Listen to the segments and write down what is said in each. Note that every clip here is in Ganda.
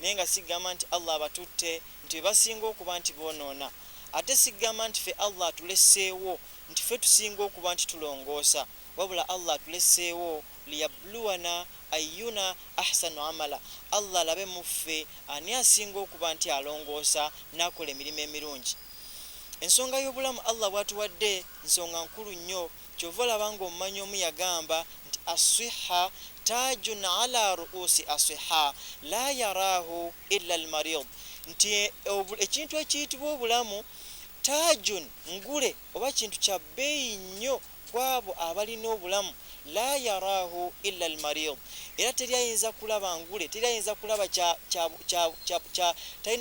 Naye nga sigamba nti Allah abatutte nti bebasinga okuba nti bonoona, ate sigamba nti ffe Allah atulesseewo nti ffe tusinga okuba nti tulongoosa, wabula Allah atulesseewo liyabluwana ayyuna ahsanu amala, Allah alabe muffe ani asinga okuba nti alongoosa nakola emirimo emirungi. Ensonga y'obulamu Allah bwatuwadde nsonga nkulu nnyo. Kyova olaba nga omumanyi omu yagamba nti Asswihha taajun ala ru'usi aswihha laa yaraahu illa almariid nti ekintu ekiyitibwa obulamu taajun ngule oba kintu kya bbeeyi nnyo kwabo abalina obulamu laa yaraahu illa almariid era teri ayinza kulaba ngule teri ayinza kulaba kya kya kya kya kya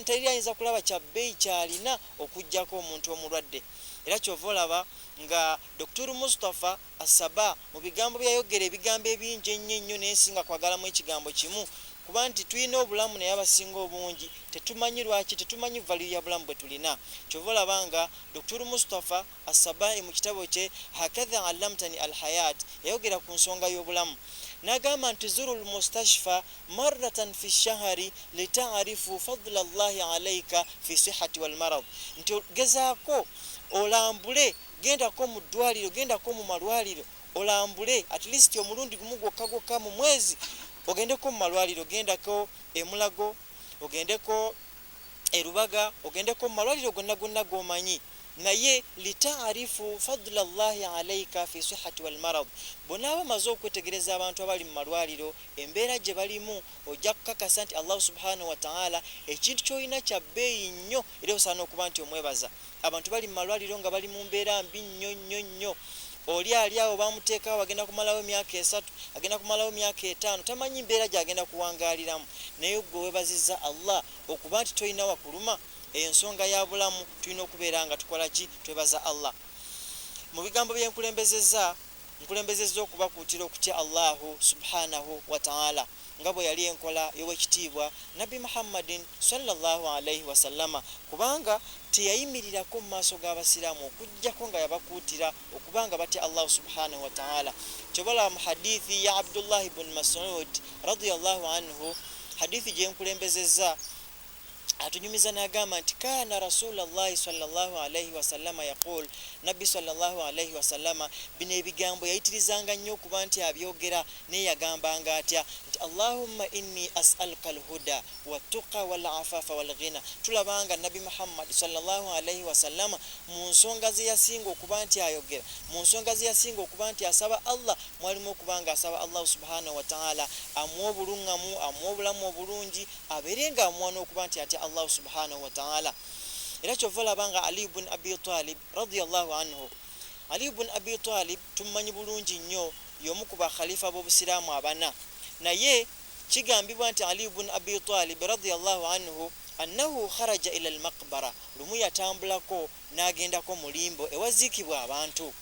teri ayinza kulaba kya bbeeyi kyalina okujjako omuntu omulwadde era kyova olaba Nga Doktor Mustapha asaba mu bigambo byeyayogera ebigambo ebingi ennyo ennyo naye nsinga kwagalamu ekigambo kimu kuba nti tulina obulamu naye abasinga obungi tetumanyi lwaki tetumanyi value ya bulamu bwetulina kyova olaba nga Doktor Mustapha Assabahi mu kitabo kye Hakadha Allamtani Alhayat yayogera ku nsonga y'obulamu nagamba nti Zurul Mustashfa maratan fi shahari litarifu fadla llahi alaika fi sihati walmarad, nti gezaako olambule, gendako mu ddwaliro, gendako mu malwaliro olambule at least omulundi gumu gwokka gwokka mu mwezi ogendeko mu malwaliro gendako emulago ogendeko erubaga ogendeko mu malwaliro gonna gonna gomanyi naye litaarifu fadula llahi alaika fi sihati walmarad bonaaba maze okwetegereza abantu abali mu malwaliro embeera gye balimu ojja kukakasa nti allahu subhanahu wataala ekintu kyolina kya bbeeyi nnyo era osaana okuba nti omwebaza abantu bali mu malwaliro nga bali mu mbeera mbi nnyo nnyo nnyo oli ali awo bamuteekawo agenda kumalawo emyaka esatu agenda kumalawo myaka etaano tamanyi mbeera gyagenda kuwangaaliramu naye gwe webaziza allah okuba nti tolina wakuluma eyo nsonga ya bulamu tulina okubeera nga tukola ki twebaza allah mu bigambo byenkulembezeza Nkulembezezza okubakuutira okutya Allahu subhaanahu wa ta'aala nga bwe yali enkola y'Owekitiibwa Nabbi Muhammadin swalla Llaahu alaihi wasallama kubanga teyayimirirako mu maaso g'Abasiraamu okuggyako nga yabakuutira okuba nga batya Allahu subhaanahu wa ta'aala. Ky'oba olaba mu hadiithi ya Abdullahi bun Masuud radiyallahu anhu, hadiithi gye nkulembezezza atunyumiza nagamba nti kaana rasula llahi salllahu alaihi wasallama yaqul nabbi salllahu alaihi wasallama bino ebigambo yayitirizanga nnyo okuba nti abyogera naye yagambanga atya nti allahumma inni asaluka lhuda watuqa walafafa walghina tulabanga nabbi muhammadi salllahu alaihi wasallama mu nsonga zeyasinga okuba nti ayogera mu nsonga zeyasinga okuba nti asaba allah mwalimu okuba nga asaba allahu subhanahu wataala amuwa obuluŋŋamu amuwa obulamu obulungi abeere nga amuwa n'okuba nti atya allahu subhanahu wataala era kyova olaba nga aliyu bun abi talib radiallahu anhu aliyu bun abi talib tummanyi bulungi nnyo y'omu ku bakhalifa b'obusiraamu abana naye kigambibwa nti aliyu bun abi talib radiallahu anhu annahu kharaja ila almaqbara lumu yatambulako n'agendako mu limbo ewaziikibwa abantu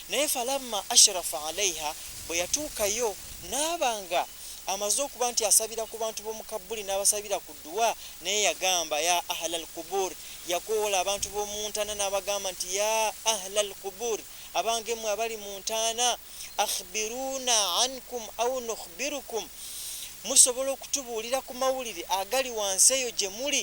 naye falamma ashrafa alaiha bwe yatuukayo n'aba nga amaze okuba nti asabira ku bantu b'omu kabbuli n'abasabira ku dduwa naye yagamba ya ahla al qubur yakoola abantu b'omu ntaana n'abagamba nti ya ahla al qubur abange mwe abali mu ntaana akhbiruna ankum au nukhbirukum musobola okutubuulira ku mawulire agali wansi eyo gye muli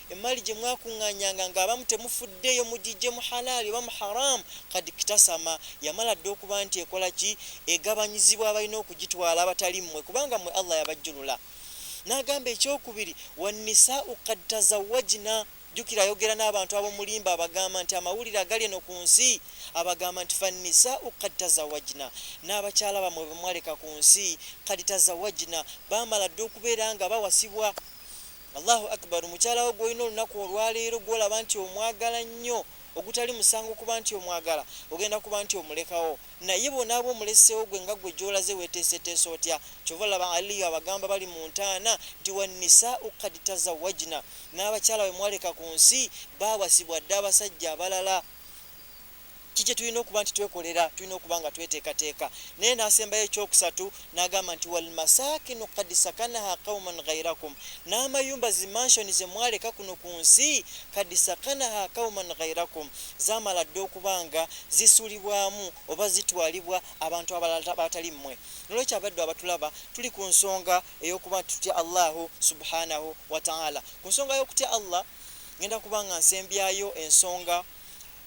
Emmaali gye mwakuŋŋaanyanga ng'abamu temufuddeeyo mugiggye mu halaali oba mu haraamu, kad iktasama, yamala dda okuba nti ekola ki? Egabanyizibwa abalina okugitwala abatali mmwe kubanga mmwe Allah yabajjulula. N'agamba ekyokubiri, Wannisaa'u kad tazawwajna, jjukira ayogera n'abantu ab'omulimba abagamba nti amawulire agali eno ku nsi, abagamba nti fannisaa'u kad tazawwajna, n'abakyala bammwe be mwaleka ku nsi, kad tazawwajna, baamala dda okubeera nga bawasibwa. Allahu Akbar mukyala wo gwolina olunaku olwaleero gwolaba nti omwagala nnyo ogutali musango kuba nti omwagala ogenda kuba nti omulekawo naye bonaaba omulesewo gwe nga gwe gyolaze weteeseteesa otya kyova laba aliyu abagamba bali mu ntaana nti wanisau kad tazawajina n'abakyala bemwaleka ku nsi baawasibwa dda abasajja abalala Ki kye tulina okuba nti twekolera? Tulina okuba nga tweteekateeka. Naye n'asembayo eky'okusatu n'agamba nti, Wal masaakinu qad sakanaha qauman ghairakum, n'amayumba, zi mansion, ze mwaleka kuno ku nsi, qad sakanaha qauman ghairakum, zaamala dda okuba nga zisulibwamu oba zitwalibwa abantu abalala abatali mmwe. N'olwekyo abaddu abatulaba tuli ku nsonga ey'okuba nti tutya Allahu Subhaanahu wa Ta'aala. Ku nsonga y'okutya Allah, ngenda kuba nga nsembyayo ensonga.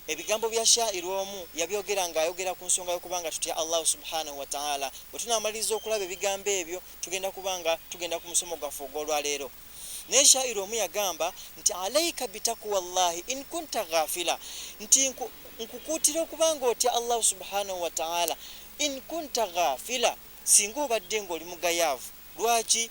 Ebigambo bya Shaa'ir omu yabyogera nga ayogera ku nsonga y'okuba nga tutya Allahu Subhaanahu wa Ta'aala. Bwe tunaamaliriza okulaba ebigambo ebyo, tugenda kuba nga tugenda ku musomo gwaffe ogw'olwaleero. Naye Shaa'ir omu yagamba nti, Alaika bitakuwa Allahi in kunta ghafila, nti nkukuutira okuba nga otya Allahu Subhaanahu wa Ta'aala in kunta ghafila, singa obadde ng'oli mugayaavu. Lwaki?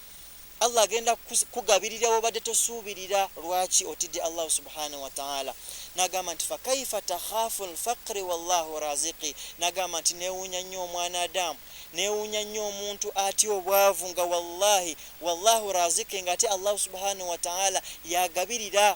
Allah agenda kugabirira wobadde tosuubirira lwaki otidde allahu subhanahu wataala nagamba nti fakaifa takhafu lfaqri wallahu raziki nagamba nti newunya nnyo omwana adamu newunya nnyo omuntu atya obwavu nga wallahi wallahu raziki nga ate allahu subhanahu wataala yagabirira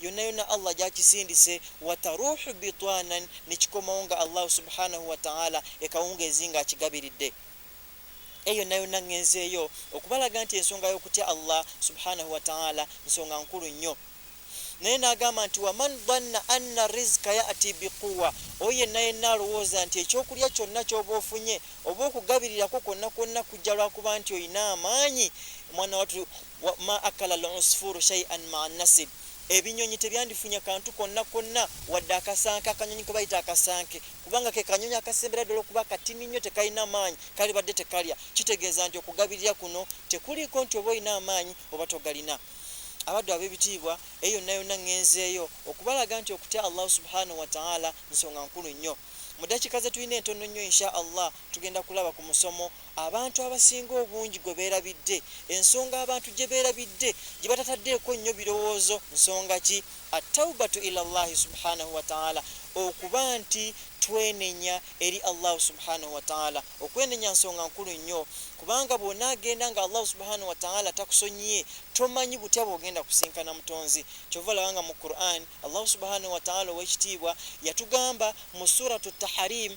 yonna yonna Allah gyakisindise wataruhu bitwanan nekikomawo nga Allahu subhanahu wataala ekawungeezi nga akigabiridde eyo yonna yonna ngenzeeyo okubalaga nti ensonga y'okutya Allah subhanahu wataala nsonga nkulu nnyo naye n'agamba nti waman dhanna anna rizika yati biquwa oyo yenna yenna alowooza nti ekyokulya kyonna kyoba ofunye oba okugabirirako kwonna kwonna kujja lwakuba nti olina amaanyi omwana watu Wa ma akala al usfuru shay'an ma nasib ebinyonyi tebyandifunya kantu konna konna wadde akasanke akanyonyi kebayita akasanke kubanga ke kanyonyi akasembera ddala okuba katini nnyo tekalina maanyi kali badde tekalya kitegeeza nti okugabirira kuno tekuliiko nti oba olina amaanyi oba togalina abaddu ab'ebitiibwa eyo yonna yonna ŋŋenzeeyo okubalaga nti okutya allahu subhanahu wataala nsonga nkulu nnyo mu dakiika ze tulina entono nnyo insha allah tugenda kulaba ku musomo Abantu abasinga obungi gwe beerabidde, ensonga abantu gye beerabidde gye batataddeeko nnyo birowoozo nsonga ki? At-tawbatu ila Llaahi subhaanahu wa ta'aala, okuba nti twenenya eri Allahu subhaanahu wa ta'aala. Okwenenya nsonga nkulu nnyo kubanga bw'onaagenda nga Allahu subhaanahu wa ta'aala takusonyiye tomanyi butya bw'ogenda kusinkana Mutonzi. Kyova olaba nga mu Qur'an Allahu subhaanahu wa ta'aala ow'ekitiibwa yatugamba mu Suratu Tahariim,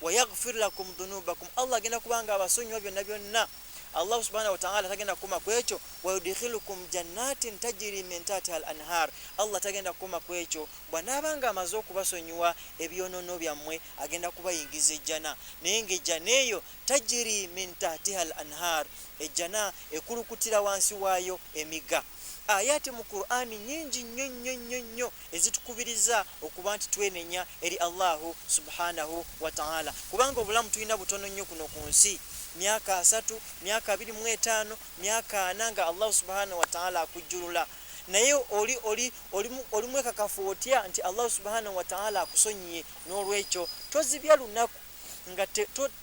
wayagfir lakum dhunubakum allah agenda kubanga abasonyiwa byonna byonna allah subhanahu wataala tagenda kukoma ku ekyo wayudkhilukum jannatin tajiri min tatiha al anhar allah tagenda kukoma ku ekyo bwanaaba nga amaze okubasonyiwa ebyonono byammwe agenda kubayingiza ejjana naye nga ejjana eyo tajiri min tatiha al anhar ejjana ekulukutira wansi waayo emiga ayati mu qurani nyingi nnyo nnyo nnyo nnyo ezitukubiriza okuba nti twenenya eri Allahu subhanahu wataala kubanga obulamu tulina butono nnyo kuno ku nsi myaka asatu myaka abiri mu etaano myaka ana nga Allahu subhanahu wataala akujjulula naye oli oli oli mwekakafu otya nti Allahu subhanahu wataala akusonyiye n'olwekyo tozibya lunaku nga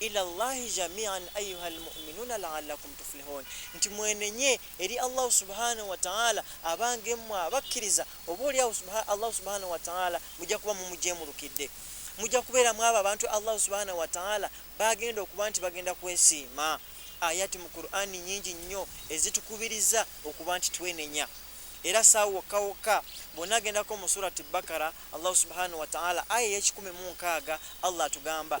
Ila Llaahi jamii'an ayyuhal mu'minuuna la'allakum tuflihuun, nti mwenenye eri Allahu Subhaanahu wa Ta'aala abange mmwe abakkiriza, oba oli awo Allahu Subhaanahu wa Ta'aala mujja kuba mumujeemulukidde. Mujja kubeera mw'abo abantu Allahu Subhaanahu wa Ta'aala b'agenda okuba nti bagenda kwesiima. Ayat mu Kur'ani nnyingi nnyo ezitukubiriza okuba nti twenenya. Era saa wokka wokka bw'onaagendako mu Surati Bakara, Allahu Subhaanahu wa Ta'aala aya ey'ekikumi mu nkaaga, Allah atugamba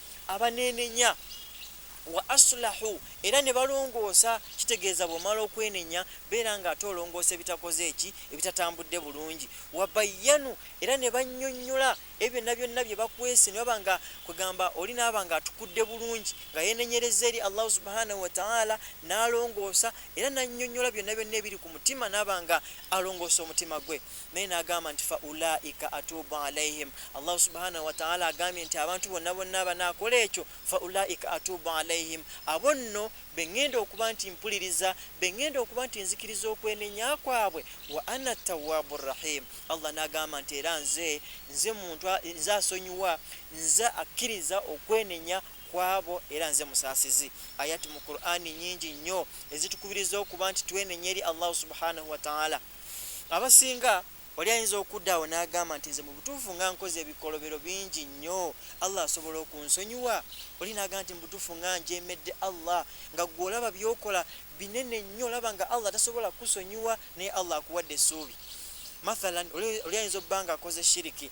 abaneenenya wa asulahu era ne balongoosa kitegeeza bw'omala okwenenya beera nga ate olongoosa ebitakoze eki ebitatambudde bulungi wabayyanu era ne bannyonnyola ebyo byonna byonna bye bakwese ne baba nga kwegamba oli naaba nga atukudde bulungi nga yeenenyereza eri allahu subhanahu wataala n'alongoosa era nannyonnyola byonna byonna ebiri ku mutima naaba nga alongoosa omutima gwe naye nagamba nti fa ulaika atubu alaihim allahu subhanahu wataala agambye nti abantu bonna bonna banakola ekyo fa ulaika atubu alaihim abo nno beŋŋenda okuba nti mpuliriza beŋŋenda okuba nti nzikiriza okwenenya kwabwe wa ana tawabu rahim allah nagamba nti era nze nze muntu nze asonyiwa nze akkiriza okwenenya kwabo era nze musaasizi ayati mu qurani nyingi nnyo ezitukubiriza okuba nti twenenya eri allahu subhanahu wataala abasinga oli ayinza okudda awo n'agamba nti nze mu butuufu nga nkoze ebikolobero bingi nnyo allah asobola okunsonyiwa oli n'agamba nti mu butuufu nga njemedde allah nga gwe olaba byokola binene nnyo olaba nga allah tasobola kusonyiwa naye allah akuwadde essuubi mathalan oli ayinza obba nga akoze shiriki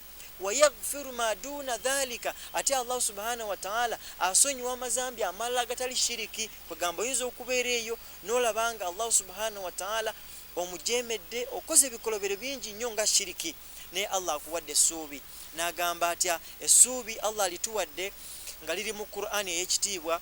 wayaghfiru ma duna dhalika ate allahu subhanahu wataala asonyiwa amazambi amalala agatali shiriki kwegamba oyinza okubeera eyo nolabanga allahu subhanahu wataala omujemedde okoze ebikolobero bingi nnyo nga shiriki naye allah akuwadde essuubi nagamba atya essuubi allah alituwadde nga liri mu qurani eyekitiibwa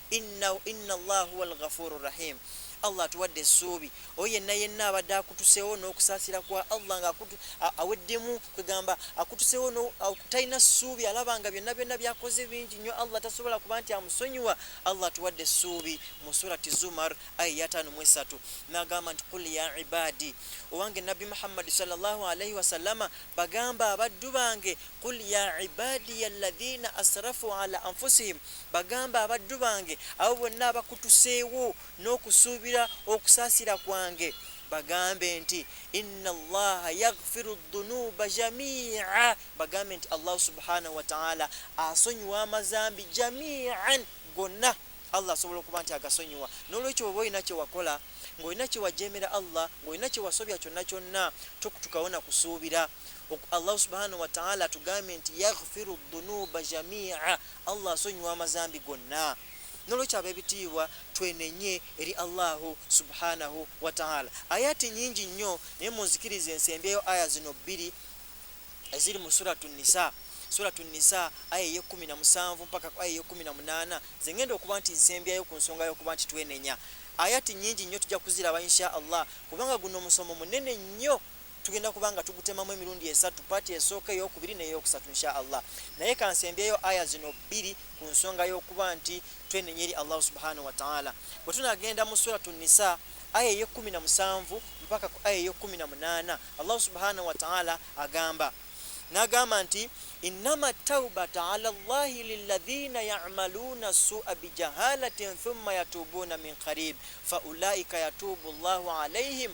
Inna inna Allah huwa alghafuuru rahiim Allah atuwadde essuubi oyo yenna yenna abadde akutuseewo n'okusaasira kwa Allah nga aweddemu kwegamba akutuseewo talina ssuubi alaba nga byonna byonna byakoze bingi nnyo Allah tasobola kuba nti amusonyiwa Allah atuwadde essuubi mu surati Zumar aya yataano mu esatu n'agamba nti kul ya ibaadi owange nabbi Muhammadi sallallahu alaihi wasallama bagamba abaddu bange kul ya ibaadiya alladhina asrafu ala anfusihim Bagambe abaddu bange abo bonna abakutuseewo n'okusuubira okusaasira kwange, bagambe nti, Inna Allaha yaghfiru dhunuuba jamii'a, bagambe nti Allahu subhaanahu wa ta'aala asonyiwa amazambi jamii'an, gonna. Allah asobola okuba nti agasonyiwa. N'olwekyo bw'oba olina kye wakola, ng'olina kye wajeemera Allah, ng'olina kye wasobya kyonna kyonna, tokutukawo na kusuubira. Allahu subhaanahu wa ta'aala atugambye nti yaghfiru dhunuuba jamii'a, Allah asonyiwa amazambi gonna nolwekyo abebitiibwa twenenye eri Allahu subhanahu wataala ayati nyingi nnyo naye munzikiriza ensembyeyo aya zino bbiri eziri mu suratu nisa suratu nisa aya eyekumi na musanvu mpaka aya eyekumi na munaana zengenda okuba nti nsembyayo ku nsonga yokuba nti twenenya ayati nyingi nnyo tujja kuziraba insha allah kubanga guno omusomo munene nnyo tugenda kuba nga tugutemamu emirundi esatu paati esooka eyokubiri neyokusatu insha allah naye kansembyeyo aya zino bbiri ku nsonga y'okuba nti twenenya eri allahu subhanahu wataala bwe tunagenda mu suratu nisa aya eyekumi na musanvu mpaka ku aya eyekumi na munaana allahu subhanahu wataala agamba nagamba nti innama taubata ala llahi liladhina yamaluuna sua bijahalatin thumma yatubuuna min qarib faulaika yatubu llahu alaihim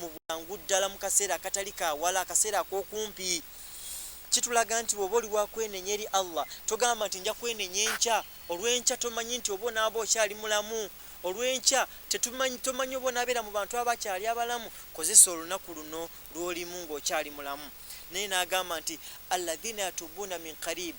mu bwangu ddala mu kaseera akatali ka wala akaseera ak'okumpi kitulaga nti bw'oba oli wakwenenya eri allah togamba nti nja kwenenya enkya olw'enkya tomanyi nti oba onaaba okyali mulamu olw'enkya tomanyi oba onaabeera mu bantu abakyali abalamu kozesa olunaku luno lw'olimu ng'okyali mulamu naye n'agamba nti alladhina yatubuuna min karibu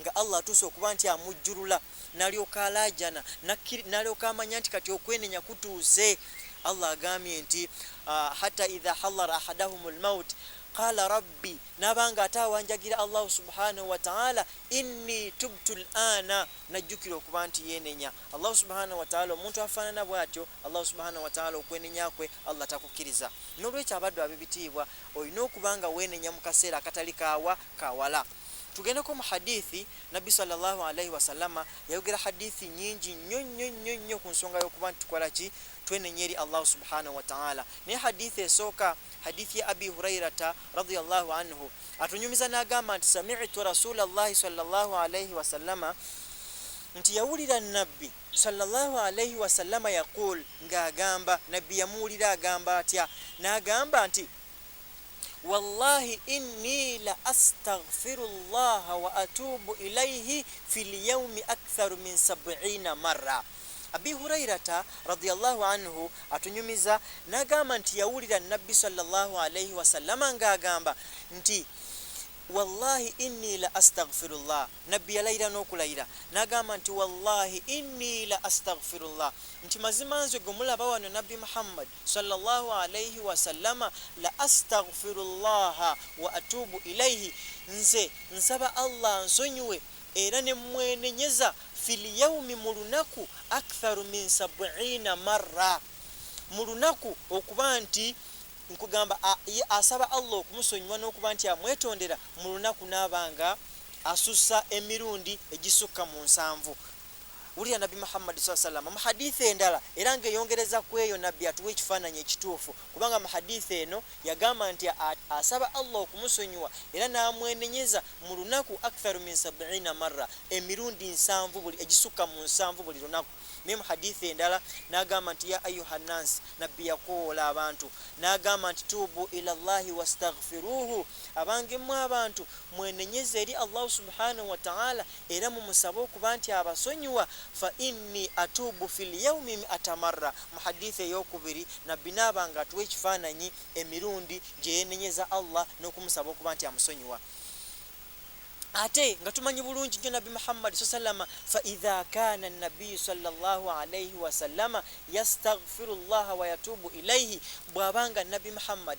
nga Allah atuuse okuba nti amujjulula nalyoka alaajana nalyoka amanya nti kati okwenenya kutuuse Allah agambye nti ah, hata idha halara ahadahum lmaut qala rabbi nabanga ate awanjagira allahu subhanahu wataala inni tubtu lana najjukira okuba nti yenenya allahu subhanahu wataala omuntu afaanana bwatyo allahu subhanahu wataala okwenenya kwe allah takukkiriza nolwekyo abaddu abebitiibwa olina okuba nga wenenya mu kaseera akatali kaawa kawala Tugendeko mu hadithi, Nabbi sallallahu alaihi wasallama yayogera hadithi nyingi nnyo nnyo nnyo nnyo ku nsonga y'okuba nti tukola ki twenenya eri Allahu subhanahu wa ta'ala. Naye hadithi esooka, hadithi ya Abi Hurairata radiyallahu anhu, atunyumiza n'agamba nti sami'tu rasulallahi sallallahu alaihi wasallama nti yawulira nabbi sallallahu alaihi wasallama yaqul ng'agamba nabbi yamuwulira agamba atya n'agamba nti Wallahi inni la astaghfiru llaha wa atubu ilaihi fi lyaumi aktharu min sabiina marra. Abi Hurairata radiyallahu anhu atunyumiza nagamba nti yawulira Nabbi sallallahu alaihi wasallama nga agamba nti wallahi inni la astaghfirullah nabbi yalayira n'okulayira n'agamba nti wallahi inni la astaghfirullah nti mazima nze gwe mulaba wano nabbi muhammad swalla Llaahu alaihi wasallama, La astaghfiru Llaaha wa atuubu ilaihi, Nze nsaba Allah ansonyiwe era ne mmwenenyeza, fil yaumi mu lunaku, aktharu min sabwiina marra, mu lunaku okuba nti nkugamba ye asaba Allah okumusonyiwa n'okuba nti amwetondera mu lunaku n'aba nga asussa emirundi egisukka mu nsanvu. Wulira Nabbi Muhammadi swalla salama mu hadithi endala era ng'eyongereza ku eyo Nabbi atuwa ekifaananyi ekituufu kubanga mu hadithi eno yagamba nti asaba Allah okumusonyiwa era n'amwenenyeza mu lunaku aktharu min sabiina marra emirundi nsanvu buli egisukka mu nsanvu buli lunaku naye mu hadithi endala n'agamba nti ya ayuha nnansi Nabbi yakowoola abantu n'agamba nti tuubu ila llahi wastaghfiruhu abange mmwe abantu mwenenyeza eri Allahu subhanahu wataala Era mumusabe okuba nti abasonyiwa, fa inni atuubu fil yaumi mi'ata marra, mu hadiith eyokubiri Nabbi naaba nga atuwa ekifaananyi emirundi gyeyenenyeza Allah nokumusaba okuba nti amusonyiwa, ate nga tumanyi bulungi nnyo Nabbi Muhammad swsallama, fa idha kaana Nabiyyu swalla Llahu alaihi wasallama yastaghfiru Llaha wayatuubu ilaihi, bwaba nga Nabbi Muhammad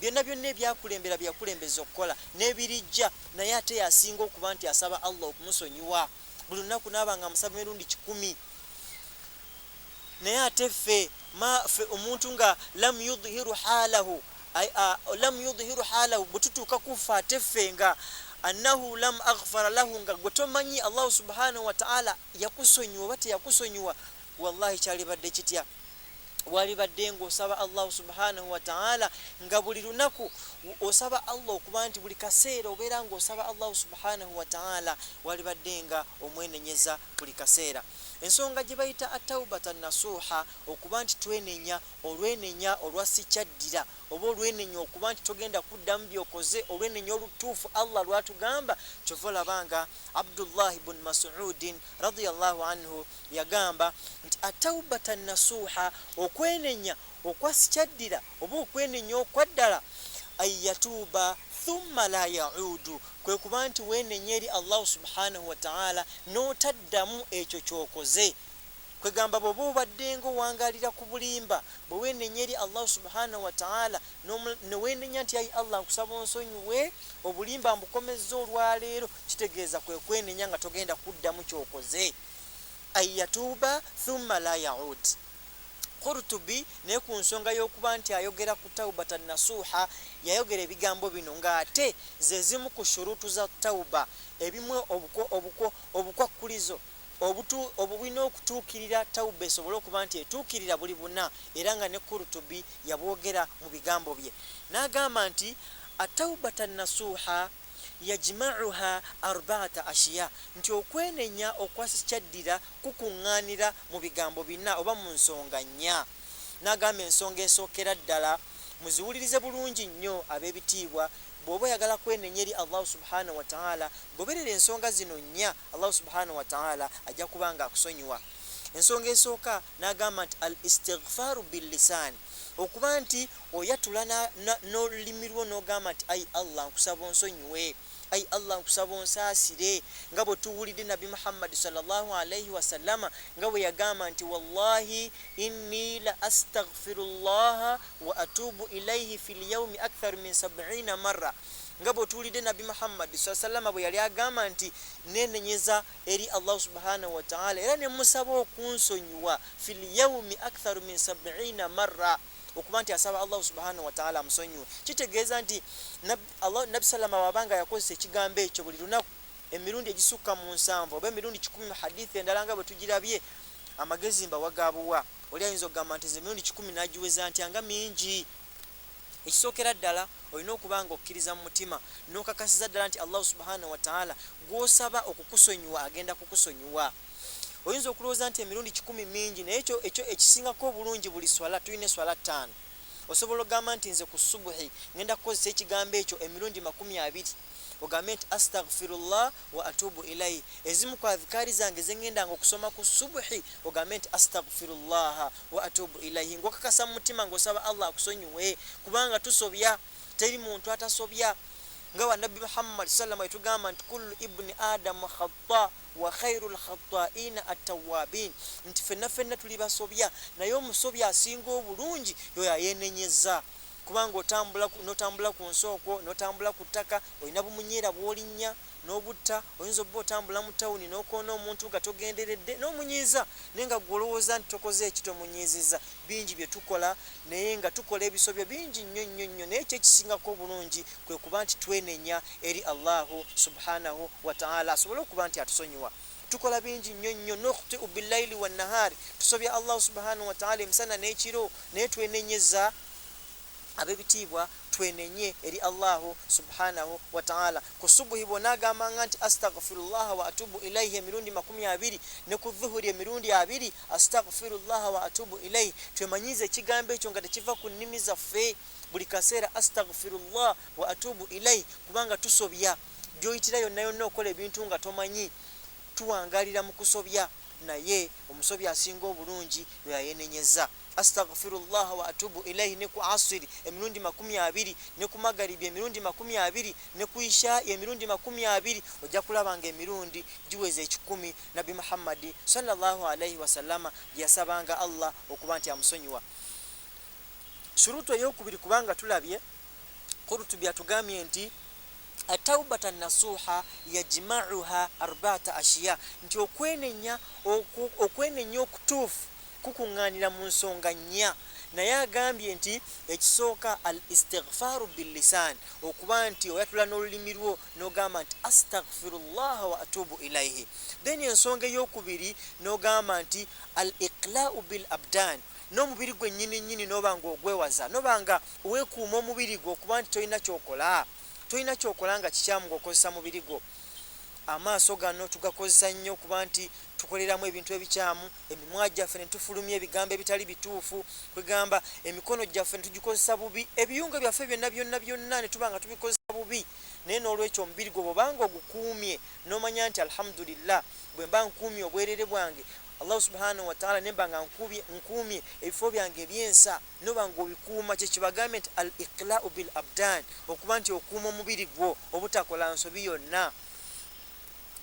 byonna byonna ebyakulembera byeyakulembeza okukola n'ebirijja naye ate yasinga okuba nti asaba allah okumusonyiwa buli lunaku naaba nga amusaba emirundi kikumi naye ate ffe mafe omuntu nga lam yudhiru halahu lam yudhiru halahu bwetutuuka kuffe ate ffe nga annahu lam aghfara lahu nga gwe tomanyi allahu subhanahu wataala yakusonyiwa oba teyakusonyiwa Wallahi kyalibadde kitya walibadde ng'osaba Allahu subhanahu wataala nga buli lunaku osaba Allah okuba nti buli kaseera obeera ng'osaba Allahu subhanahu wataala walibadde nga omwenenyeza buli kaseera ensonga gye bayita ataubata nasuuha okuba nti twenenya olwenenya olwa sikyaddira oba olwenenya okuba nti togenda kuddamu byokoze olwenenya olutuufu allah lwatugamba kyova olabanga abdullahi bun masudin radiallahu anhu Yagamba nti, At-tawbatan nasuha, okwenenya okwasikyaddira oba okwenenya okwaddala, An yatuuba thumma laa ya'uudu, kwe kuba nti weenenya eri Allahu subhaanahu wa ta'aala n'otaddamu ekyo ky'okoze. Kwegamba bw'oba obaddenga owangaalira ku bulimba, bwe weenenya eri Allahu subhaanahu wa ta'aala ne weenenya nti ayi Allah nkusaba onsonyiwe obulimba mbukomezza olwaleero, kitegeeza kwe kwenenya nga togenda kuddamu ky'okoze. ayatuuba thumma la yaud Qurtubi naye ku nsonga y'okuba nti ayogera ku taubata nasuuha yayogera ebigambo bino ng'ate ze zimu ku shuruutu za tauba ebimu obukwakkulizo obulina okutuukirira tauba esobole okuba nti etuukirira buli buna era nga ne Qurtubi yabwogera mu bigambo bye n'agamba nti ataubata nasuuha yajma'uha arbaata ashiya, nti okwenenya okwa sikyaddira kukuŋŋaanira mu bigambo bina oba mu nsonga nnya, nagamba ensonga esookera ddala muziwulirize bulungi nnyo ab'ebitiibwa, bwoba oyagala kwenenya eri Allahu subhaanahu wa ta'aala goberera ensonga zino nnya Allahu subhaanahu wa ta'aala ajja kuba nga akusonyiwa. Ensonga esooka nagamba nti al-istighfaaru bil-lisaan, okuba nti Oyatula na, na, n'olulimi lwo n'ogamba nti, Ayi Allah nkusaba onsonyiwe, Ayi Allah nkusaba onsaasire, nga bwe tuwulidde Nabbi Muhammadi swalla Llaahu alaihi wasallama nga bwe yagamba nti, Wallaahi inni la astaghfiru Llaaha wa atuubu ilaihi fil yaumi aktharu min sab'iina marra nga bwe tuwulidde Nabbi Muhammadi swalla sallama bwe yali agamba nti, neenenyeza eri Allahu subhaanahu wa ta'ala era ne mmusaba okunsonyiwa fil yaumi aktharu min sab'iina marra okuba nti asaba allahu subhanahu wataala amusonyiwe kitegeeza nti nabi salama wabanga yakozesa ekigambo ekyo buli lunaku emirundi egisukka mu nsanvu oba emirundi kikumi mu hadithi endala nga bwetugirabye amagezi mbawagabuwa oli ayinza okugamba nti ze mirundi kikumi nagiweza ntya nga mingi ekisookera ddala olina okuba nga okkiriza mu mutima nokakasiza ddala nti allahu subhanahu wataala gwosaba okukusonyiwa agenda kukusonyiwa oyinza okulowooza nti emirundi kikumi mingi naye ekyo ekyo ekisingako obulungi buli swala tulina eswala ttaano osobola ogamba nti nze ku subuhi ngenda kukozesa ekigambo ekyo emirundi makumi abiri ogambe nti astagfirullah wa atubu ilai ezimu ku adhikaari zange zengendanga okusoma ku subuhi ogambe nti astagfirullaha wa atubu ilaihi ngaokakasa mu mutima ngaosaba allah akusonyiwe kubanga tusobya teri muntu atasobya nga wanabbi muhammad salama etugamba nti kullu ibuni adamu khata Wa khairul khattaa'iina attawwaabiin, nti ffenna ffenna tuli basobya naye omusobya asinga obulungi y'oyo ayeenenyezza. Kubanga otambula ku, n'otambula ku nsi okwo, n'otambula ku ttaka, olina bumunyeera bw'olinnya, n'obutta, oyinza obba otambula mu tawuni n'okoona omuntu nga togenderedde, n'omunyiiza, naye nga ggwe olowooza nti tokoze ki, tomunyiizizza. bingi bye tukola naye nga tukola ebisobyo bingi nnyo nnyo nnyo naye ekyo ekisingako obulungi kwe kuba nti twenenya eri allahu subhanahu wataala asobole okuba nti atusonyiwa tukola bingi nnyo nnyo nokhtiu billaili wannahaari tusobya allahu subhanahu wataala emisana n'ekiro naye twenenyeza Abebitiibwa twenenye eri Allahu subhanahu wata'ala ku subuhi bwonagambanga nti Astaghfirullaha wa atubu ilaihi emirundi makumi abiri ne ku dhuhuri emirundi abiri Astaghfirullaha wa atubu ilaihi twemanyiize ekigambo ekyo nga tekiva ku nnimi zaffe buli kaseera Astaghfirullah wa atubu ilaihi kubanga tusobya gyoyitira yonna yonna okola ebintu nga tomanyi tuwangalira mu kusobya naye omusobya asinga obulungi lweyayenenyeza astaghfirullah wa atubu ilaihi ne ku asiri emirundi makumi abiri ne ku magaribi emirundi makumi abiri ne ku isha emirundi makumi abiri ojja kulaba nga emirundi giweza ekikumi nabbi muhammadi sallallahu alaihi wasallama yasabanga allah okuba nti amusonyiwa shurutu eyokubiri kubanga tulabye kurutubi atugambye nti At-tawbata an-nasuha yajma'uha arba'ata ashiya, nti okwenenya oku, okwenenya okutuufu kukungaanira mu nsonga nnya, naye agambye nti ekisooka al-istighfaru bil-lisan, okuba nti oyatula n'olulimi lwo n'ogamba nti astaghfirullaha wa atubu ilaihi, then ensonga ey'okubiri n'ogamba nti al-iqla'u bil-abdan, n'omubiri gwennyini nnyini n'oba nga ogwewaza, n'oba nga weekuuma omubiri gwo okuba nti tolina ky'okola. tolina kyokola nga kikyamu ng'okozesa mubiri gwo. Amaaso gano tugakozesa nnyo okuba nti tukoleramu ebintu ebikyamu, emimwa gyaffe ne tufulumya ebigambo ebitali bituufu, kwegamba emikono gyaffe ne tugikozesa bubi, ebiyungo byaffe byonna byonna byonna ne tuba nga tubikozesa bubi. Naye n'olwekyo omubiri gwo bw'oba ng'ogukuumye n'omanya nti Alhamudulillah bwe mba nkuumye obwereere bwange, Allahu Subhaanahu wataala ne mba nga nkuumye ebifo byange eby'ensa, noba nga obikuuma kyekibagambye nti al iqlau bil abdan okuba nti okuuma omubiri gwo obutakola nsobi yonna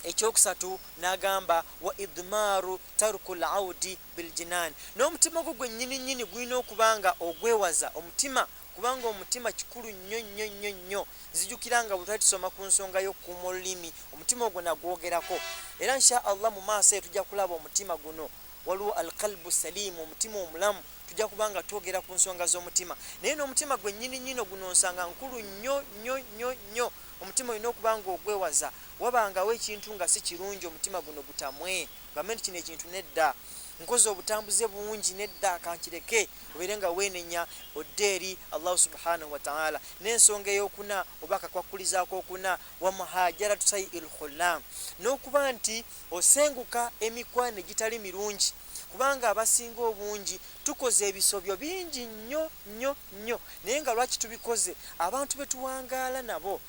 ekyokusatu nagamba wa idmaaru taruku laudi biljinaani n'omutima gwo gwennyini nyini gulina okuba nga ogwewaza omutima kubanga omutima kikulu nnyo nnyo nnyo nnyo nzijukira nga bwe twali tusoma ku nsonga y'okukuuma olulimi omutima ogwo nagwogerako era nsha allah mu maaso eyo tujja kulaba omutima guno waliwo alkalbu saliimu omutima omulamu tujja kuba nga twogera ku nsonga z'omutima naye n'omutima gwe nyini nyino guno nsanga nkulu nnyo nnyo nnyo nnyo omutima olina okuba nga ogwewaza wabangawo ekintu nga si kirungi omutima guno gutamwe gambe nti kino ekintu nedda nkoze obutambuze bungi nedda kankireke obeere nga weenenya odde eri allahu subhanahu wataala n'ensonga eyokuna oba akakwakkulizaako okuna wamuhajaratu sai il khulam n'okuba nti Osenguka emikwano egitali mirungi kubanga abasinga obungi tukoze ebisobyo bingi nnyo nnyo nnyo naye nga lwaki tubikoze abantu be tuwangaala nabo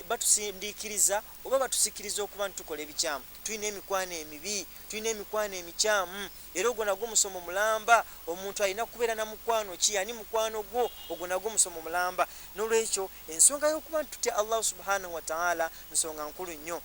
batusindiikiriza oba batusikiriza okuba nti tukola ebikyamu tulina emikwano emibi tulina emikwano emikyamu era ogwo nagwo musomo mulamba omuntu alina kubeera na mukwano ki ani mukwano gwo ogwo nagwo musomo mulamba n'olwekyo ensonga y'okuba nti tutya allahu subhanahu wataala nsonga nkulu nnyo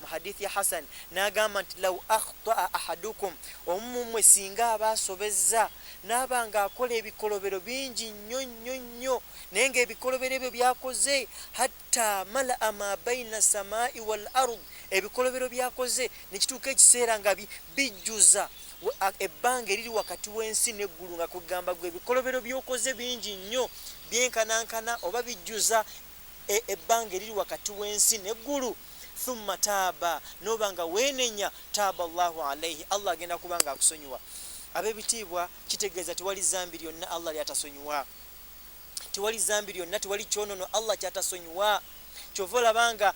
mu hadith ya hasan nagamba nti law akhtaa ahadukum omumumwe singa aba asobezza naaba nga akola ebikolobero bingi nnyo nnyo nnyo naye nga ebikolobero ebyo byakoze hatta malaa ma baina samai wal ard ebikolobero byakoze nekituuka ekiseera nga bijjuza ebbanga eriri wakati w'ensi neggulu nga kugamba gwe ebikolobero byokoze bingi nnyo byenkanankana oba bijjuza e, ebbanga eriri wakati w'ensi n'eggulu thumma taaba noba nga weenenya taaba allahu alaihi allah agenda kuba nga akusonyiwa ab'ebitiibwa kitegeeza tewali zambi lyonna allah lyatasonyiwa tewali zambi lyonna tewali kyonono allah kyatasonyiwa kyova olabanga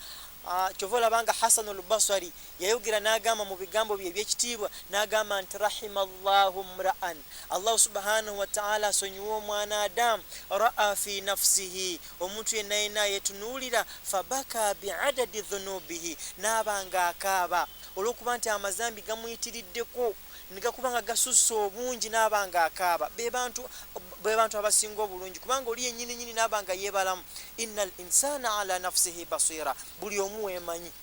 Ah, kyova olabanga hasanu lbasari yayogera nagamba mu bigambo bye ebyekitiibwa nagamba nti rahima llahu mraan Allahu subhanahu wataala asonyiwe omwana Adamu. Raa fi nafsihi, omuntu yenna yenna yetunuulira. Fabaka biadadi dhunubihi, naaba nga akaaba olwokuba nti amazambi gamuyitiriddeko negakuba nga gasusse obungi naaba nga akaaba. Bebantu bebantu abasinga obulungi kubanga oli yenyini nyini naaba nga yebalamu. Inna al insana ala nafsihi basira, buli omu wemanyi.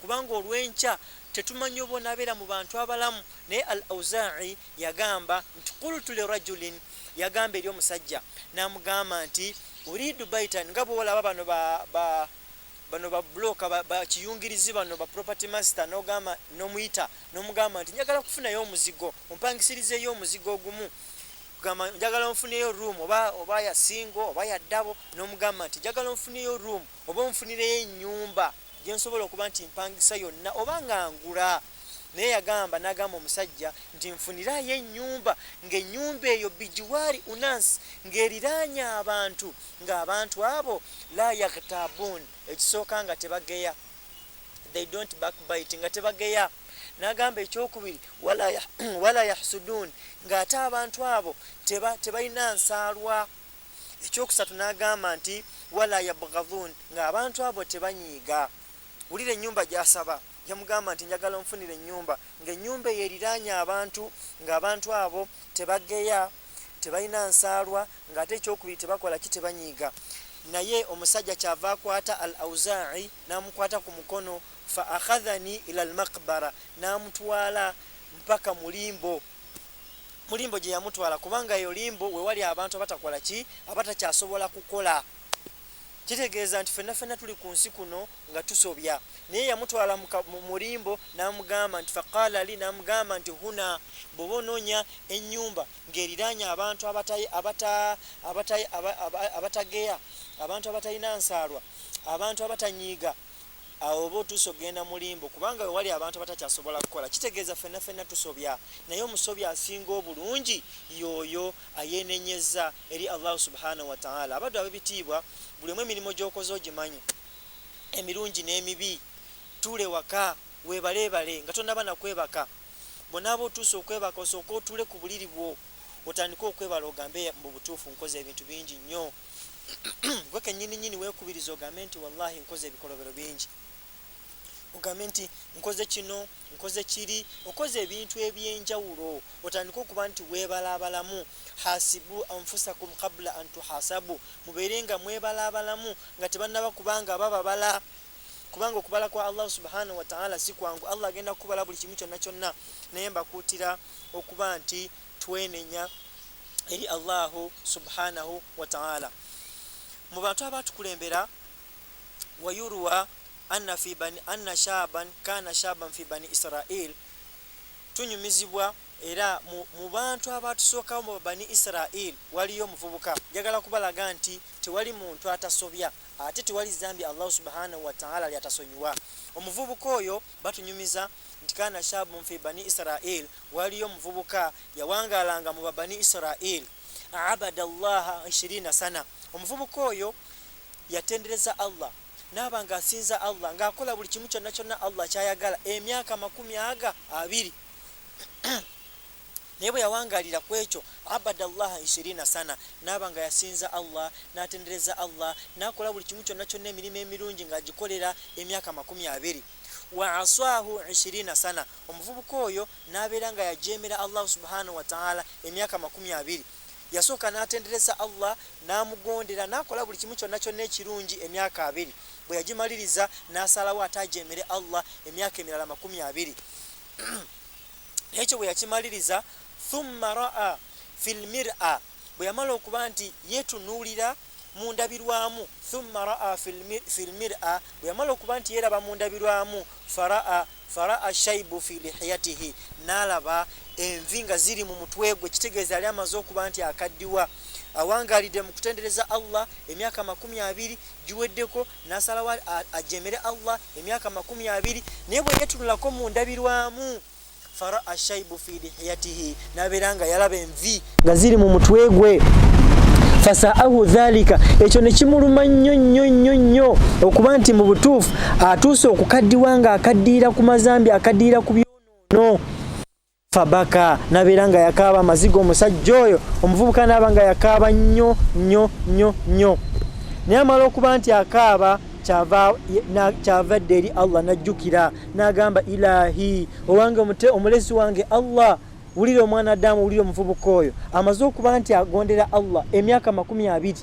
kubanga olwenkya tetumanyi oba onabeera mu bantu abalamu naye al auzai yagamba nti kultu lirajulin yagamba eri omusajja namugamba nti uridu baitan nga bwolaba bano ba, ba bano ba bloka bakiyungirizi ba bano ba property master nogamba nomuyita nomugamba nti njagala kufunayo omuzigo ompangisirizeyo omuzigo ogumu gamba njagala nfuneyo room oba oba ya singo oba ya dabo nomugamba nti njagala nfuneyo room oba onfunireyo ennyumba gye nsobola okuba nti mpangisa yonna oba nga ngula naye yagamba nagamba omusajja nti nfunirayo ennyumba ng'ennyumba eyo bijiwaari unansi ng'eriraanye abantu ng'abantu abo la yaghtabuun ekisooka nga tebageya they don't backbite nga tebageya nagamba ekyokubiri wala yahsuduun ng'ate abantu abo tebalina nsaalwa ekyokusatu nagamba nti wala yabghadhun nga abantu abo tebanyiiga wulira enyumba gyasaba yamugamba nti njagala onfunira enyumba nga enyumba eyo eriranye abantu nga abantu abo tebageya tebalina nsaalwa nga ate ekyokubiri tebakola ki tebanyiiga naye omusajja kyava akwata al auzai namukwata ku mukono fa akhadhani ila almakbara namutwala mpaka mulimbo mu limbo gye yamutwala kubanga eyo limbo we wali abantu abatakola ki abatakyasobola kukola kitegeeza nti fenna fenna tuli ku nsi kuno nga tusobya naye yamutwala mu limbo n'amugamba nti faqaala li n'amugamba nti huna bwoba onoonya ennyumba ng'eriraanye abantu abatageya abantu abatalina nsaalwa abantu abatanyiiga awo oba otuuse okugenda mu limbo kubanga wewali abantu abatakyasobola kukola kitegeeza fenna fenna tusobya naye omusobya asinga obulungi yooyo ayenenyeza eri allahu subhanahu wataala abaddu abebitiibwa buli omu emirimu gyokoze ogimanyi emirungi n'emibi tuule waka webaleebale nga tonaba nakwebaka bonaaba otuuse okwebaka osooka otuule ku buliri bwo otandike okwebala ogambe mu butuufu nkoze ebintu bingi nnyo gwe kenyini nyini wekubiriza ogambe nti wallahi nkoze ebikolobero bingi ogambe nti nkoze kino nkoze kiri okoze ebintu ebyenjawulo otandike okuba nti webalabalamu hasibu anfusakum kabula antuhasabu mubeere nga mwebalabalamu nga tebannaba kubanga bababala kubanga okubala kwa allah subhanahu wataala si kwangu allah agenda kukubala buli kimu kyonna kyonna naye mbakuutira okuba nti twenenya eri Allahu subhanahu wataala mu bantu abatukulembera wayuruwa anna fi bani anna shaban kana shaban fi bani israil tunyumizibwa era mu bantu abatusookawo mu bani israil waliyo omuvubuka njagala kubalaga nti tewali muntu atasobya ate tewali zambi allahu subhanahu wataala lyatasonyiwa omuvubuka oyo Batunyumiza nti kaana shaabun fii banii Israil, waaliyo omuvubuka yawangaalanga mu ba banii Israil, abada Allaha ishiriina sana, omuvubuka oyo yatendereza Allah naaba nga asinza Allah nga akola buli kimu kyonna kyonna Allah kyayagala emyaka amakumi aga abiri. Naye bwe yawangalira ku ekyo, abada Allaha ishirina sana, n'aba nga yasinza Allah, n'atendereza Allah, n'akola buli kimu kyonna kyonna emirimo emirungi nga agikolera emyaka amakumi abiri. Wa aswahu ishirina sana, omuvubuka oyo n'abeera nga yajeemera Allahu subhanahu wa ta'ala emyaka amakumi abiri. Yasooka n'atendereza Allah, n'amugondera, n'akola buli kimu kyonna kyonna ekirungi emyaka abiri. Bwe yagimaliriza, n'asalawo ate ajeemere Allah emyaka emirala amakumi abiri. Ekyo bwe yakimaliriza, thumma ra'a fil mir'a, bwe yamala okuba nti yeetunuulira mu ndabirwamu, thumma ra'a fil mir'a, bwe yamala okuba nti yeeraba mu ndabirwamu, fara'a fara'a shaibu fi lihiyatihi, n'alaba envi nga ziri mu mutwe gwe, kitegeeza yali amaze okuba nti akaddiwa, awangaalidde mu kutendereza Allah emyaka amakumi abiri giweddeko. nasalawo ajemere allah emyaka makumi abiri naye bwe yetunulako mu ndabirwamu fara ashaibu fi lihiyatihi nabeera nga yalaba envi nga ziri mu mutwe gwe fasaahu dhalika ekyo nekimuluma nnyo nnyo nnyo nnyo okuba nti mu butuufu atuuse okukaddiwa nga akaddiira ku mazambi akaddiira ku byonono fabaka nabeera nga yakaaba amaziga omusajja oyo omuvubuka naaba nga yakaaba nnyo nnyo nnyo nnyo naye amala okuba nti akaaba kyava dde eri allah najjukira nagamba ilahi owange omulezi wange allah wulira omwana adamu wulira omuvubuka oyo amaze okuba nti agondera allah emyaka makumi abiri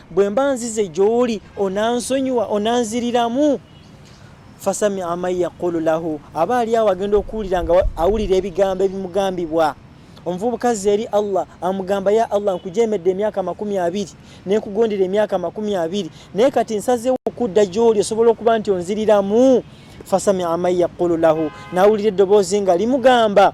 bwe mba nzize gy'oli onansonyiwa onanziriramu fasami aman yaqulu lahu aba ali awo agenda okuwulira nga awulira ebigambo ebimugambibwa omuvubuka zze eri allah amugamba ya allah nkujemedde emyaka makumi abiri nekugondera emyaka makumi abiri naye kati nsazewo okudda gy'oli osobola okuba nti onziriramu fasami aman yaqulu lahu nawulira eddoboozi nga limugamba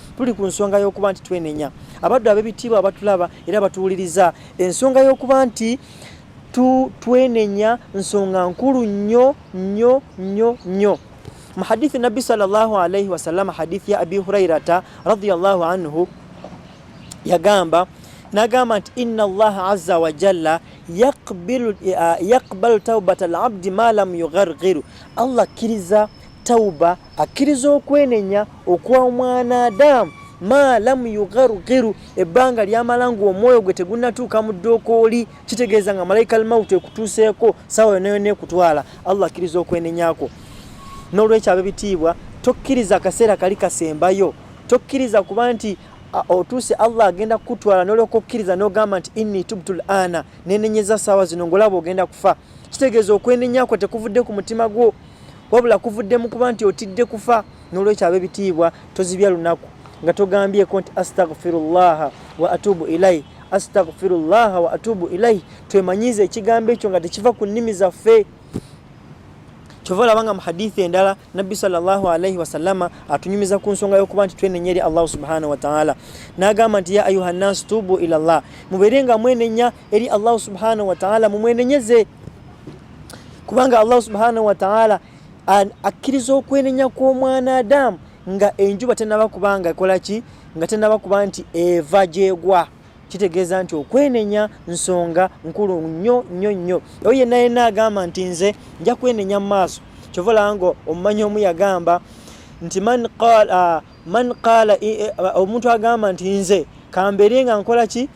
tuli ku nsonga y'okuba nti twenenya abaddu ab'ebitiibwa abatulaba era batuwuliriza ensonga y'okuba nti tu twenenya nsonga nkulu nnyo nnyo nnyo nnyo mu hadithi nabbi sallallahu alaihi wasallam hadithi ya abi hurairata radiallahu anhu yagamba nagamba nti inna allaha azza wa jalla yaqbalu eh, taubata alabdi ma lam yugharghiru allah akkiriza tauba akkiriza okwenenya okwa omwana adamu ma lamu yugharugiru ebbanga lyamala nga omwoyo gwe tegunatuuka mu ddookooli kitegeeza nga malaika almautu ekutuuseeko sawa yonayona ekutwala allah akkiriza okwenenyako n'olwekyo abebitiibwa tokkiriza akaseera kali kasembayo tokkiriza kuba nti otuuse allah agenda kukutwala nolyoka okkiriza nogamba nti inni tubtul ana nenenyeza saawa zino ngaolaba ogenda kufa kitegeeza okwenenya kwo tekuvudde ku mutima gwo wabula kuvudde mu kuba nti otidde kufa n'olwekyo ab'ebitiibwa tozibya lunaku nga togambyeko nti astagfirullaha wa atubu ilai astagfirullaha wa atubu ilai twemanyiiza ekigambo ekyo nga tekiva ku nnimi zaffe kyova olaba nga mu hadithi endala nabbi salllahalaihi wasalama atunyumiza ku nsonga yokuba nti twenenya eri allahu subhanahu wataala nagamba nti ya ayuha nnasi tubu ilallah mubeere nga mwenenya eri allahu subhanahu wataala mumwenenyeze kubanga allahu subhanahu wataala akkiriza okwenenya kw'omwana adamu nga enjuba tenaba kuba nga ekola ki nga tenaba kuba nti eva gyegwa kitegeeza nti okwenenya nsonga nkulu nnyo nnyo nnyo oyo yenna yenna agamba nti nze nja kwenenya mu maaso kyova olanga omumanyi omu yagamba nti man qaala omuntu agamba nti nze kambeere nga nkola ki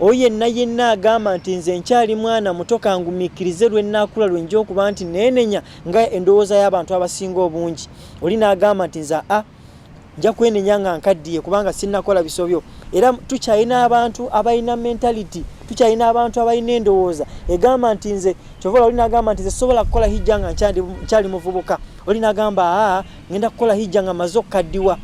oyo yenna yenna agamba nti nze nkyali mwana muto kangumiikirize lwe nnaakula lwe nja okuba nti neenenya nga endowooza y'abantu abasinga obungi oli n'agamba nti nze a nja kwenenya nga nkaddiye kubanga sinnakola bisobyo era tukyalina abantu abalina mentality tukyalina abantu abalina endowooza egamba nti nze kyovala oli n'agamba nti nze sobola kukola hijja nga nkyali muvubuka oli n'agamba aa ngenda kukola hijja nga maze okukaddiwa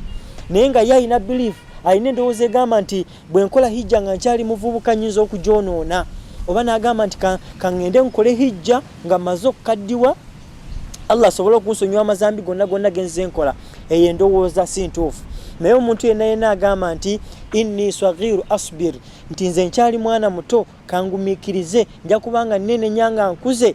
naye nga ye alina biliifu alina endowooza egamba nti bwe nkola hijja nga nkyali muvubuka nyinza okugyonoona oba nagamba nti kaŋŋende nkole hijja nga mmaze okukaddiwa allah asobole okunsonyiwa amazambi gonna gonna genze nkola eyo endowooza si ntuufu naye omuntu yenna yenna agamba nti inni sagiru asbir nti nze nkyali mwana muto kangumiikirize nja kubanga nene nyanga nkuze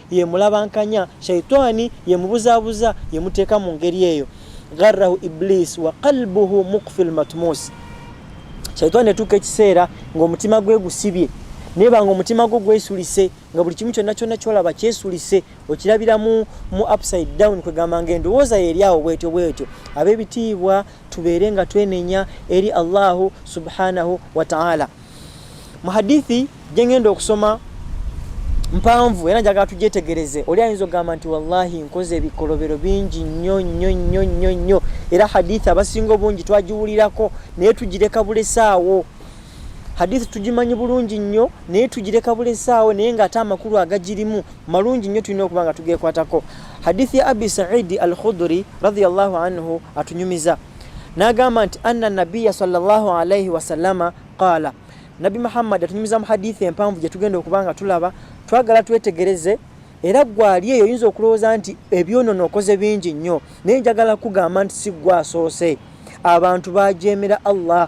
yemulabankanya shaitani yemubuzabuza yemuteeka mu ngeri eyo gharrahu iblis wa qalbuhu mukfi lmatmus shaitani etuuka ekiseera ngaomutima gwe gusibye naye banga omutima gwo gwesulise nga buli kimu kyonna kyonna kyolaba kyesulise okirabira mu mu upside down kwegamba nga endowooza yeri awo bwetyo bwetyo ab'ebitiibwa tubeere nga twenenya eri allahu subhanahu wataala muhadithi jengenda okusoma mpanvu era njagala tugyetegereze oli ayinza okugamba nti wallahi nkoze ebikolobero bingi nnyo nnyo nnyo nnyo nnyo era hadithi abasinga obungi twagiwulirako naye tugireka bulesaawo hadithi tugimanyi bulungi nnyo naye tugireka bulesaawo naye ngaate amakulu agagirimu malungi nnyo tulina okuba nga tugekwatako hadithi ya abi saidi al khuduri radiallahu anhu atunyumiza nagamba nti anna nabiya salllah alaihi wasalama qaala nabbi muhammadi atunyumiza mu hadithi empanvu gyetugenda okuba nga tulaba twagala twetegereze era gwali eyo oyinza okulowooza nti ebyonono okoze bingi nnyo naye njagala kugamba nti si gwe asoose abantu bajeemera allah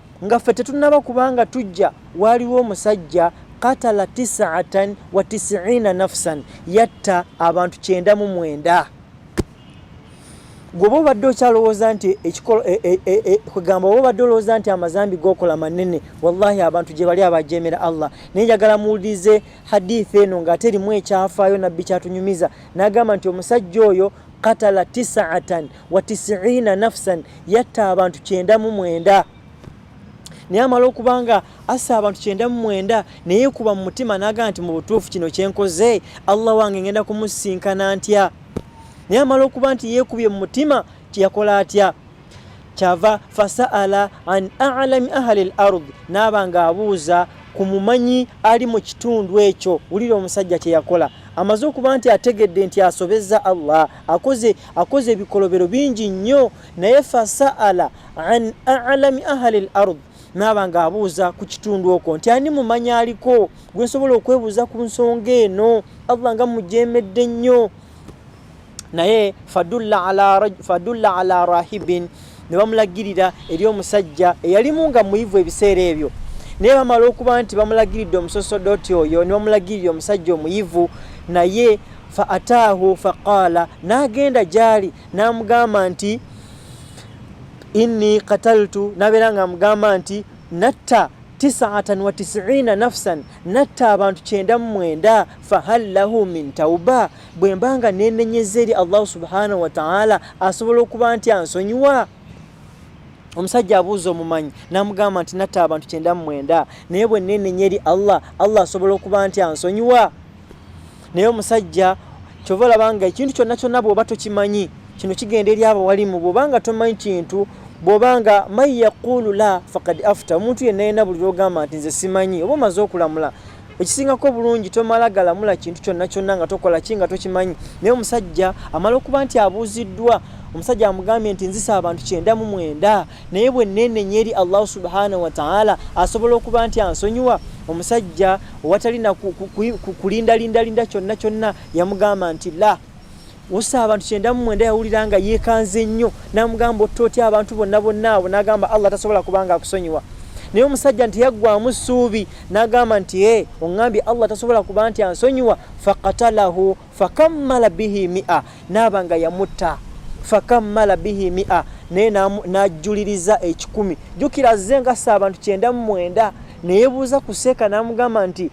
nga ffe tetunaba kubanga tujja waaliwo omusajja katala tisaatan wa tisiina nafsan yatta abantu kyenda mu mwenda gwoba obadde okyalowooza nti ekikolo e, e, e, kugamba oba obadde olowooza nti amazambi gokola manene wallahi abantu gye bali abajemera allah naye njagala muwulirize hadith eno ngaate erimu ekyafaayo nabbi kyatunyumiza nagamba nti omusajja oyo katala tisaatan wa tisiina nafsan yatta abantu kyenda mu mwenda naye amala okuba nga assa abantu kyenda mu mwenda naye kuba mu mutima naga nti mu butuufu kino kyenkoze allah wange ngenda kumusinkana ntya naye amala okuba nti yekubye mu mutima tiyakola atya kyava fasaala an alami ahali l ard naaba nga abuuza ku mumanyi ali mu kitundu ekyo wulira omusajja kyeyakola amaze okuba nti ategedde nti asobezza allah akoze akoze ebikolobero bingi nnyo naye fasaala an alami ahali l ard naaba nga abuuza ku kitundu okwo nti ani mumanyi aliko gwe nsobola okwebuuza ku nsonga eno allah nga mujemedde nnyo naye fadulla ala rahibin ne bamulagirira eri omusajja eyalimu nga muyivu ebiseera ebyo naye bamala okuba nti bamulagiridde omusosodoti oyo ne bamulagirira omusajja omuyivu naye fa ataahu faqaala n'agenda gyali n'amugamba nti inni kataltu nabeera nga amugamba nti natta tisaatan wa tisiina nafsan natta abantu kyenda mu mwenda fahal lahu min tauba bwe mba nga nenenyeza eri allahu subhanahu wataala asobola okuba nti ansonyiwa omusajja abuuza omumanyi namugamba nti natta abantu kyenda mu mwenda naye bwe nenenya eri allah allah asobola okuba nti ansonyiwa naye omusajja kyova olaba nga ekintu kyonna kyonna bwoba tokimanyi kino kigenda eri abo walimu bwoba nga tomanyi kintu bwoba nga man yaqulu la fakad afta omuntu yenna yena buli lwogamba nti nze simanyi oba omaze okulamula ekisingako obulungi tomala galamula kintu kyonna kyonna nga tokola ki nga tokimanyi naye omusajja amala okuba nti abuuziddwa omusajja amugambye nti nzisa abantu kyenda mu mwenda naye bwe neenenya eri allahu subhanahu wataala asobola okuba nti ansonyiwa omusajja owatalina kulindalindalinda kyonna kyonna yamugamba nti la usa abantu kyenda mu mwenda yawulira nga yeekanze nnyo namugamba otta otya abantu bonna bonna abo nagamba allah tasobola kubanga akusonyiwa naye omusajja nti yaggwamu ssuubi nagamba nti e oŋambye allah tasobola kuba nti ansonyiwa fakatalahu fakammala bihi mia naaba nga yamutta fakammala bihi mia naye najjuliriza ekikumi jukira azze ngasa abantu kyenda mu mwenda neyebuuza ku seeka namugamba nti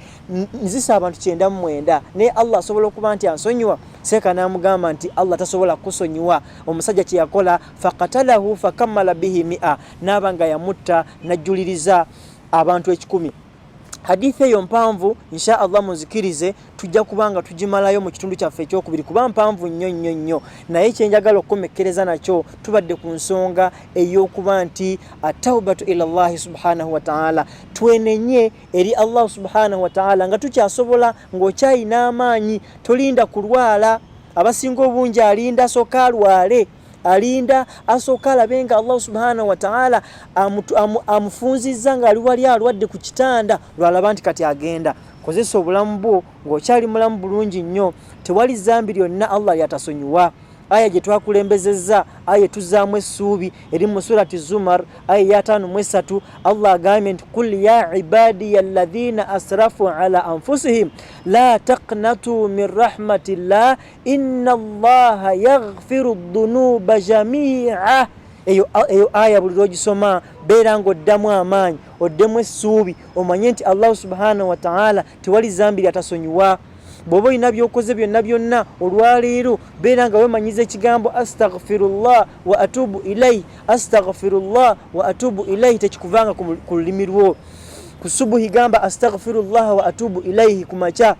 nzisa abantu kyenda mu mwenda naye allah asobola okuba nti ansonyiwa seeka namugamba nti allah tasobola kusonyiwa omusajja kyeyakola fakatalahu fakammala bihi mia naaba nga yamutta najjuliriza abantu ekikumi hadith eyo mpanvu insha allah muzikirize tujja kubanga tugimalayo mu kitundu kyaffe ekyokubiri kuba mpanvu nnyo nnyo nnyo naye kyenjagala okukomekkereza nakyo tubadde ku nsonga ey'okuba nti ataubatu ila llahi subhanahu wataala twenenye eri allah subhanahu wataala nga tukyasobola ng'okyayina amaanyi tolinda kulwala abasinga obungi alinda soka alwale alinda asooka alabe nga allahu subhana wataala amufunzizza nga ali wali alwadde ku kitanda lwalaba nti kati agenda kozesa obulamu bwo ngaokyali mulamu bulungi nnyo tewali zambi lyonna allah lyatasonyiwa aya gye twakulembezezza aya etuzaamu essuubi eri mu surati zumar aya eyataano mu esatu allah agambye nti kul ya ibadiya alladhina asrafu ala anfusihim la taknatu min rahmatillah inna allaha yaghfiru dhunuba jamia eyo aya buli lwogisoma beera nga oddamu amaanyi oddemu essuubi omanye nti allahu subhanahu wataala tewali zambi lyatasonyiwa bwoba olina byokoze byonna byonna olwaleero beera nga wemanyiza ekigambo astaghfirullah wa atubu ilaihi astaghfirullah wa atubu ilaihi tekikuvanga ku lulimi lwo ku subuhi gamba astaghfirullah wa atubu ilaihi ku makya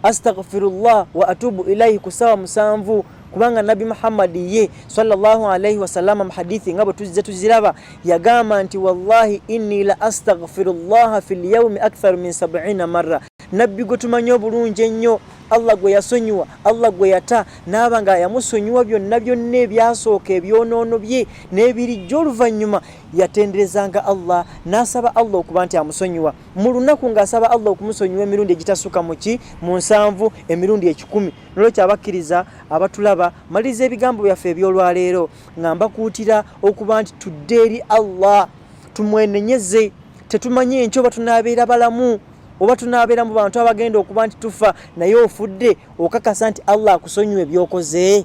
astaghfirullah wa atubu ilaihi kusawa musanvu kubanga nabbi muhammadi ye sallallahu alaihi wasalama mu hadithi nga bwe tuzze tuziraba yagamba nti wallahi inni la astaghfirullaha fi lyaumi aktharu min sabina marra nabbi gwe tumanyi obulungi ennyo allah gwe yasonyiwa allah gwe yata naaba nga yamusonyiwa byonna byonna ebyasooka ebyonoono bye n'ebirijja oluvannyuma yatenderezanga allah n'asaba allah okuba nti amusonyiwa mu lunaku ng'asaba allah okumusonyiwa emirundi egitasuka muki mu nsanvu emirundi ekikumi nolwekyo abakkiriza abatulaba maliriza ebigambo byaffe ebyolwaleero nga mbakuutira okuba nti tudde eri allah tumwenenyeze tetumanyi enkyo oba tunaabeera balamu oba tunaabeera mu bantu abagenda okuba nti tufa naye ofudde okakasa nti allah akusonyiwa ebyokoze